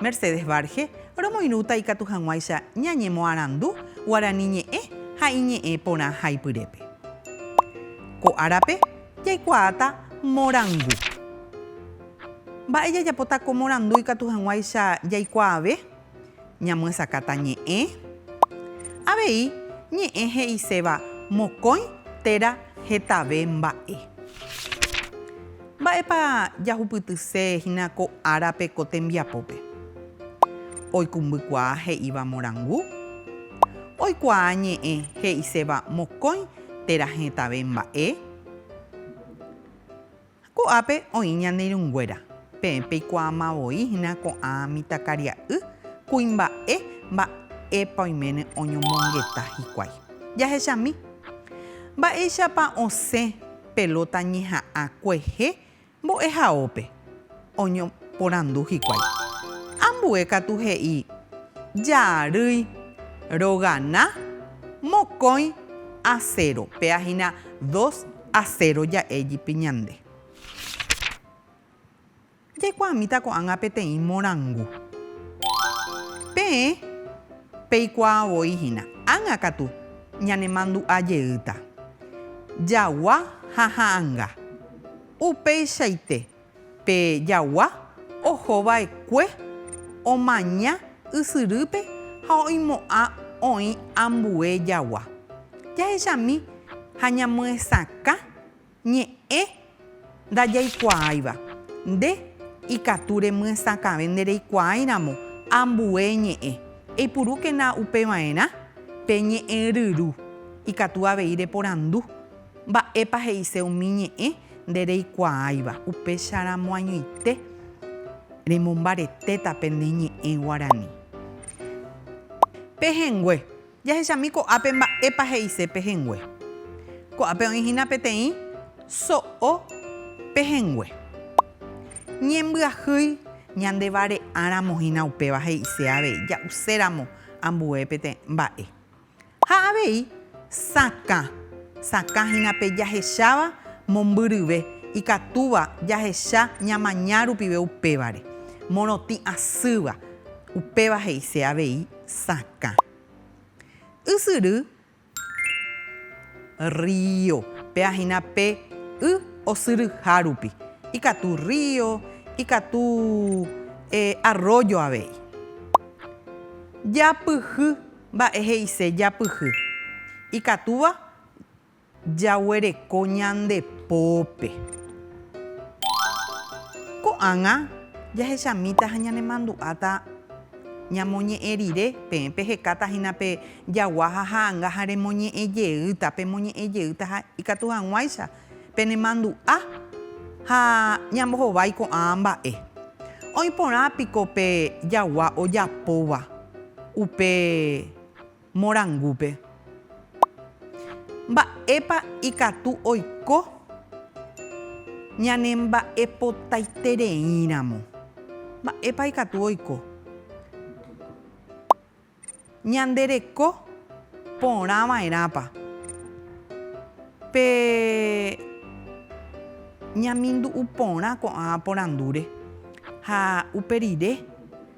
Mercedes Varge, Romoirũta ikatu hag̃uáicha ñañemoarandu guarani ñe'ẽ ha iñe'ẽ porã haipyrépe. Ko árape jaikuaáta morangu. Mba'e jajapóta ko morandu ikatu hag̃uáicha jaikuaave? Ñamyesakãta ñe'ẽ. Avei ñe'ẽ he'iséva mokõi téra hetave mba'e. Mba'épa jahupytyse hína ko árape ko tembiapópe? Oikũmbykuaa he'íva morangu? Oikuaa ñe'ẽ he'iséva mokõi térã hetave mba'e? Ko'ápe oĩ ñane irũnguéra, peẽ peikuaama voi hína ko'ã mitãkaria'y kuimba'e mba'épa oiméne oñomongeta hikuái. Jahechami. Mba'éichapa osẽ pelota ñeha'ã kuehe mbo'ehaópe, oñoporandu hikuái. Ambue katu he'i jaarýi rogana mokõi a cero, péa hína dos a cero ja'e jepi ñande. Jaikuaamíta ko'ág̃a peteĩ morangu. Peẽ peikuaa voi hína, ág̃a katu ñanemandu'a jeýta. Jagua ha ha'anga. Upeichaite pe jagua oho vaekue omaña ysyrýpe ha oimo'ã oĩ ambue jagua. Jahechami ha ñamyesakã Ñe'ẽ ndajaikuaáiva. Nde ikatu remyesakãve ndereikuaái ramo ambue ñe'ẽ. Eipurúkena upe va'erã pe ñe'ẽryru. Ikatu avei reporandu, Mba'épa he'ise umi ñe'ẽ ndereikuaáiva? Upécharamo añoite remombaretéta pende ñe'ẽ guarani. Pehẽngue. Jahechami ko'ápe mba'épa he'ise pehẽngue. Ko'ápe oĩ hína peteĩ so'o pehẽngue. Ñembyahýi ñandevare'áramo hína upéva he'ise avei ja'uséramo ambue pete mba'e. Ha avei sakã sakã hína pe jahecháva mombyryve ikatúva jahecha ñamaña rupive upévare. Morotĩ asýva, upéva he'ise avei. Sakã. Ysyry, río. Péva hína pe y osyryha rupi. Ikatu río, ikatu arrójo avei. Japyhy. Mba'e he'ise japyhy? Ikatúva Jaguereko ñande pópe. Ko'ág̃a jahechamíta ha ñanemandu'áta ñamoñe'ẽ rire, peẽ pehekáta hína pe jagua ha ha'anga ha remoñe'ẽ jeýta, pemoñe'ẽ jeýta ha ikatu hag̃uáicha penemandu'a ha ñambohovái ko'ã mba'e. Oĩ porã piko pe jagua ojapóva upe. morangúpe. Mba'épa ikatu oiko ñanemba'epotaitereíramo? Mba'épa ikatu oiko ñande reko porã va'erãpa pe ñamindu'u porã ko'ã porandúre ha upe rire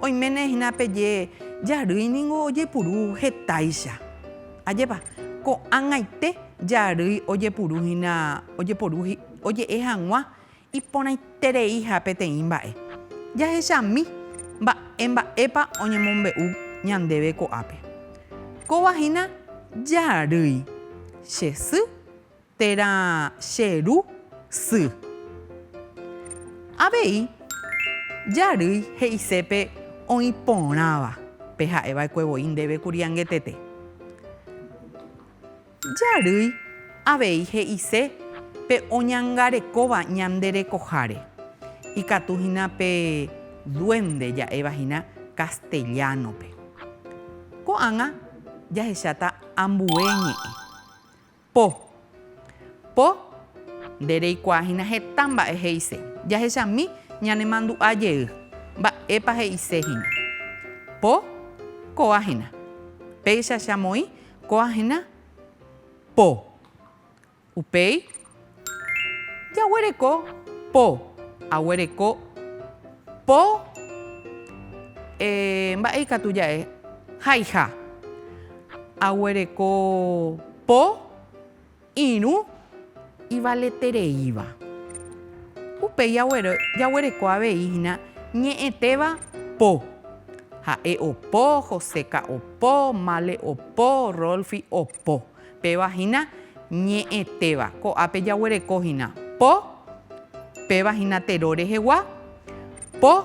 Oiméne hína peje jarýi ningo ojepuru hetáicha. Ajépa, ko'ag̃aite jarýi ojepuru hína ojeporu oje'e hag̃ua iporãitereiha peteĩ mba'e. Jahechami mba'e mba'épa oñemombe'u ñandéve ko'ápe. Kóva hína jarýi, che sy Térã che ru sy. Avei jarýi he'ise pe oĩ porãva, pe ha'e vaekue voi ndéve kuri angetete. Jarýi avei he'ise pe oñangarekóva ñande rekoháre, ikatu hína pe duende ja'éva hína castellano-pe. Ko'ág̃a jahecháta ambue ñe'ẽ. Po. Po. Nde reikuaa hína heta mba'e he'ise. Jahechami ñanemandu'a jey. Mba'épa he'ise hína. Po. Kóa hína. Péicha che amoĩ kóa hína. Po. Upéi Jaguereko po. Aguereko po eh, mba'e ikatu ja'e? Haiha. Aguereko po irũ ivaletereíva. Upéi jaguereko avei hína ñe'ẽtéva po. Ha'e opo, Joséka opo, Male opo, Rolfi opo. Péva hína ñe'ẽtéva. Ko'ápe jaguereko hína, po, péva hína tero rehegua, po,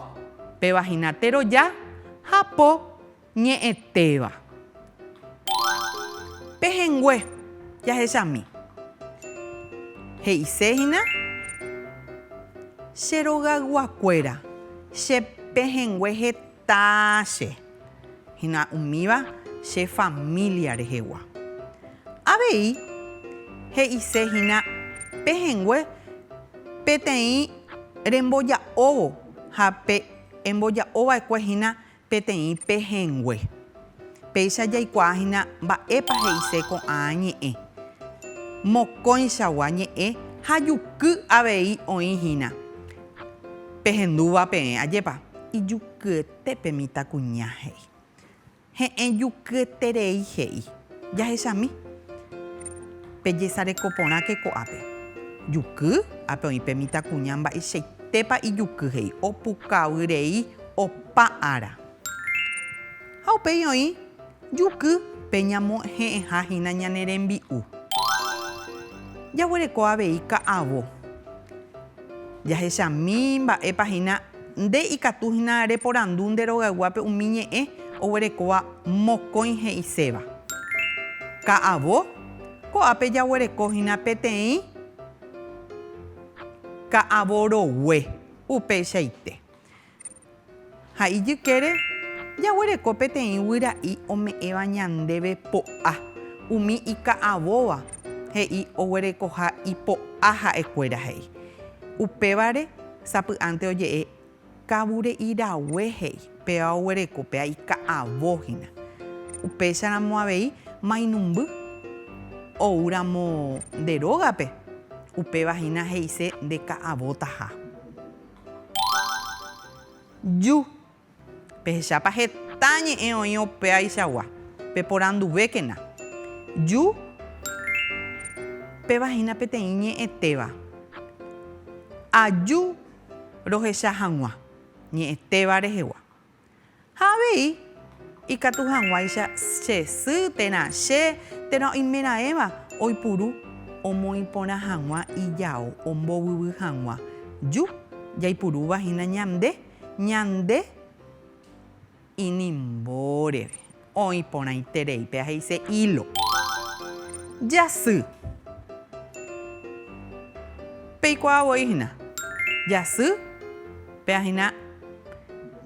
péva hína teroja ha po, ñe'ẽtéva. Pehẽngue jahechami. He'ise hína, Che rogayguakuéra, che pehẽngue heta. Tache. Hína umíva che família rehegua. Avei he'ise hína pehẽngue peteĩ remboja'óvo ha pe'emboja'ova'ekue hína peteĩ pehẽngue. Péicha jaikuaa hína mba'épa he'ise ko'ã ñe'ẽ. Mokõichagua ñe'ẽ ha juky avei oĩ hína. Pehendúva peẽ, ajépa? Ijukyetépe mitãkuña, he'i. Heẽ jukyeterei, he'i. Jahechami. Pejesareko porãke ko'ápe. Juky? Ápe oĩ pe mitãkuña mba'eichaitépa ijuky, he'i. Opukavy rei opa ára. Ha upéi oĩ juky pe ñamohe'ẽha hína ñane rembi'u. Jaguereko avei ka'avo. Jahechami mba'épa hína nde ikatu hína reporandu nde rogayguápe umi ñe'ẽ oguerekóva mokõi he'iséva. Ka'avo, ko'ápe jaguereko hína peteĩ ka'avo rogue. Upeichaite. Ha ijykére jaguereko peteĩ guyra'i ome'ẽva ñandéve po'a, umi ika'avóva he'i oguerekoha ipo'a ha'ekuéra he'i. Upévare sapy'ánte oje'e kavure'irague he'i, péva oguereko, péa ika'avo hína. Upécharamo avei mainumby oúramo nde rógape, upéva hína he'ise ndeka'avotaha. Ju. Pehechápa heta ñe'ẽ oĩ opaichagua. Peporanduvékena. Ju. Péva hína peteĩ ñe'ẽtéva. Aju rohecha hag̃ua ñe'ẽtéva rehegua. Ha avei ikatu hag̃uáicha che sy térã che térã oimeraẽva oipuru omoĩ porã hag̃ua ijao ombovyvy hag̃ua ju, jaipurúva hína ñande ñande inimbóreve. Oĩ porãiterei. Péa he'ise hilo. Jasy. Peikuaa voi hína. Jasy. Péa hína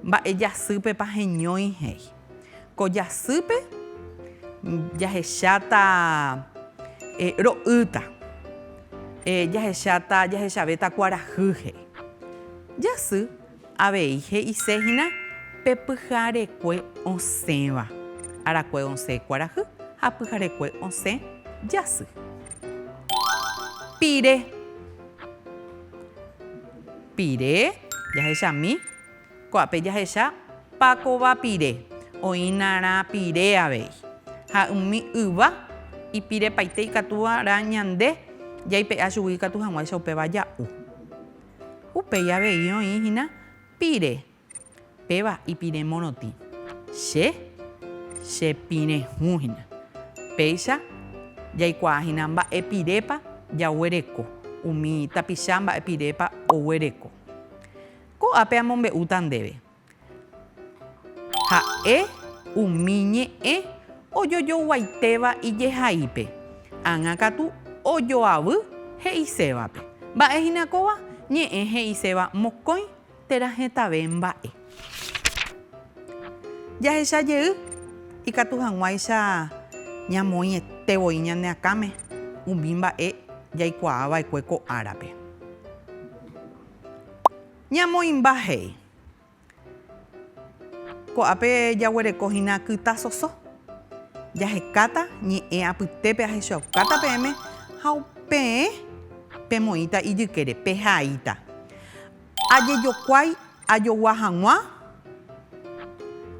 mba'e jasýpepa heñói he'i. Ko jasýpe jahecháta ro'ýta. Jahechavéta kuarahy he'i. Jasy Avei he'ise hína pe pyharekue osẽva, arakue osẽ kuarahy ha pyharekue osẽ jasy. Pire. Pire jahechami. Ko'ápe jahecha pakova pire. Oĩna rã pire avei. Ha umi yva ipirepaite ikatúva rã ñande jaipe'a chugui ikatu hag̃uáicha upéva ja'u. Upéi avei oĩ hína pire. Péva ipire morotĩ. Che chepirẽ hũ hína. Péicha jaikuaa hína mba'e pirépa jaguereko, umi tapicha mba'e pirépa oguereko. Ko'ápe amombe'úta ndéve. Ha'e umi ñe'ẽ ojojoguaitéva ijehaípe, ág̃a katu ojoavy he'isévape. Mba'e hína kóva ñe'ẽ he'iséva mokõi térã hetave mba'e. Jahecha jey ikatu hag̃uáicha ñamoĩete voi ñane akãme umi mba'e jaikuaa va'ekue ko árape. Ñamoĩmba he'i. Ko'ápe jaguereko hína kyta soso. Jahekáta ñe'ẽ apytépe ahechaukáta peẽme ha peẽ pemoĩta ijykére, pehaíta. Ajejokuái ajogua hag̃ua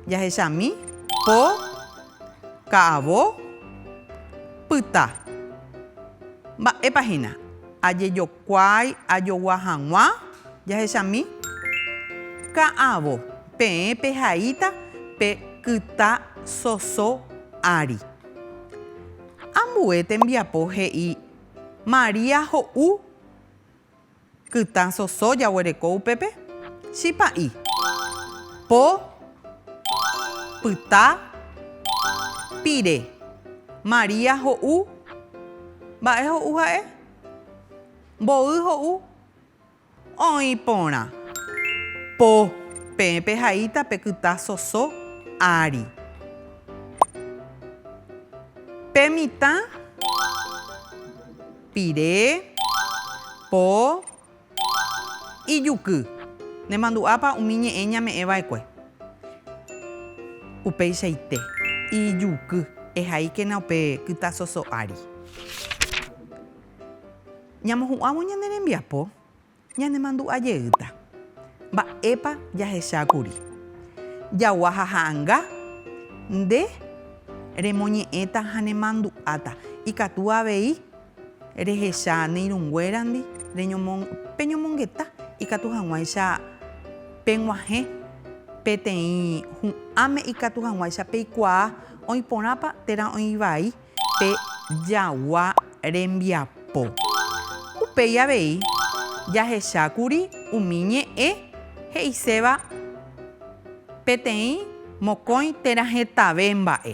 jahechami po, ka'avo, pyta. Mba'épa hína? Ajejokuái. Kuaái ajogua hag̃ua jahechami. Ka'avo, peẽ pehaíta pe kyta soso ári. Ambue tembiapo he'i María ho'u kyta soso jaguereko upépe, chipa'i, po, pyta, pire. María ho'u. Mba'e ho'u ha'e? Mboy ho'u oĩ porã. Po. Peẽ pehaíta pe kyta soso ári. Pe mitã pire. Po. Ijuky. Nemandu'ápa umi ñe'ẽ ñame'ẽ va'ekue. Upeichaite. Ijuky. Ehaíkena upe kyta soso ári. Ñamohu'ãvo ñane rembiapo, ñanemandu'a jeýta. Mba'épa jahecha kuri. Jaguaha ha'anga, nde remoñe'ẽta ha nemandu'áta. Ikatu avei. Rehecha ne irũnguérandi, peñomongeta ikatu hag̃uáicha peg̃uahẽ peteĩ hu'ãme ikatu hag̃uáicha peikuaa oĩ porãpa térã oĩ vai pe jagua rembiapo. Upéi avei jahecha kuri umi ñe'ẽ he'iséva peteĩ mokõi térã hetave mba'e.